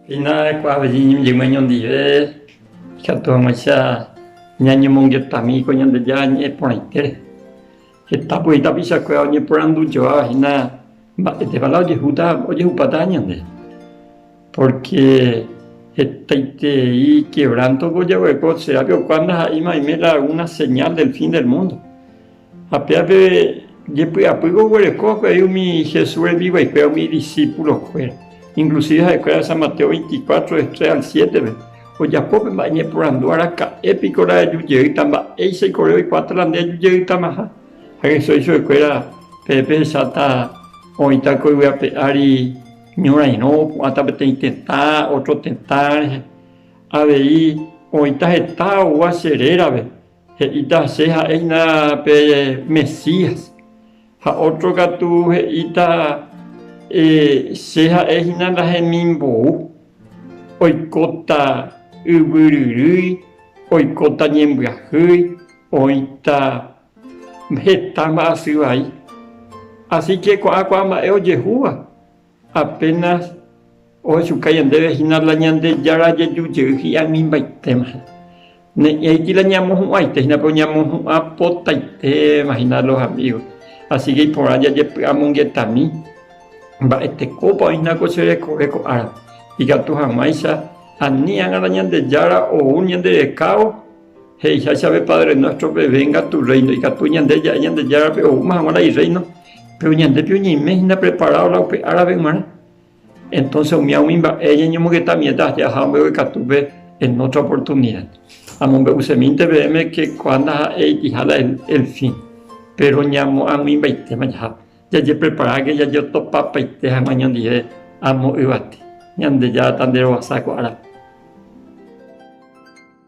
Hina kuaa avei iñimbyguẽ ñondive, ikatu hag̃uáicha ñañemongetami ko Ñandejára ñe'ẽ porãitére. Heta voi tapichakuéra oñeporandujoáva hína mba'étepa la ojehúta, ojehupáta ñande. Pórke hetaiterei kevránto ojaguereko, cherápe okuaa ndaha'éima oime la algúna señál del fin del múndo. Ha péva pe jepy'apýgui oguereko avei umi Jesús rembiguaikuéra umi idisípulokuéra. Inklusive ha'ekuéra San Mateo veinticuatro del tres al siétepe ojapo pe mba'e ñeporandu, Araka'e piko rajaju jeýta? Mba'éichaiko ore oikuaáta la nde aju jeýtamaha? Ha Jesús jei chuguekuéra, Peẽ pehecháta oĩta ko yvy ape ári ñorairõ, opu'ãta peteĩ tetã, ótro tetã rehe. Avei oĩta heta oúva che rérape, He'íta che ha'éina pe Mesías, ha ótro katu he'íta che ha'e hína ndahemimbou. Oikóta yvyryrýi, oikóta ñembyahýi, oĩta heta mba'asy vai. Asíke ko'ã kuaa mba'e ojehúva. Apénas ohechuka ñandéve hína la Ñandejára jeju jey hi'ag̃uimbaitéma. Ne'ẽ aity la ñamohu'ãite hína pe oñamohu'ã potaitéma hína los amigos. Asíke iporã jajepy'amongetami mba'e tekópa oĩ hína ko che rekove ko árape. Ikatu hag̃uáicha ani ág̃a la Ñandejára ou ñande rekávo He'iha chéve Padre nuéstro pevengatu rréino, ikatu ñande ja'e Ñandejárape oúma hag̃ua la Irréino, péro ñandépe oñeime hína preparádo la upe árape g̃uarã. Entónse umi águi mba'e ñañomongeta oñe'ẽta aje aja ambuévo ikatúpe en ótra oportunida. Amombe'usemínte peẽme ke kua ndaha'éi itĩha la el fin, péro ñamoag̃uimbaitéma jaha, jajepreparáke jajeotopapaite hag̃ua ñondive amo yvate. Ñandejára tanderovasa ko árape.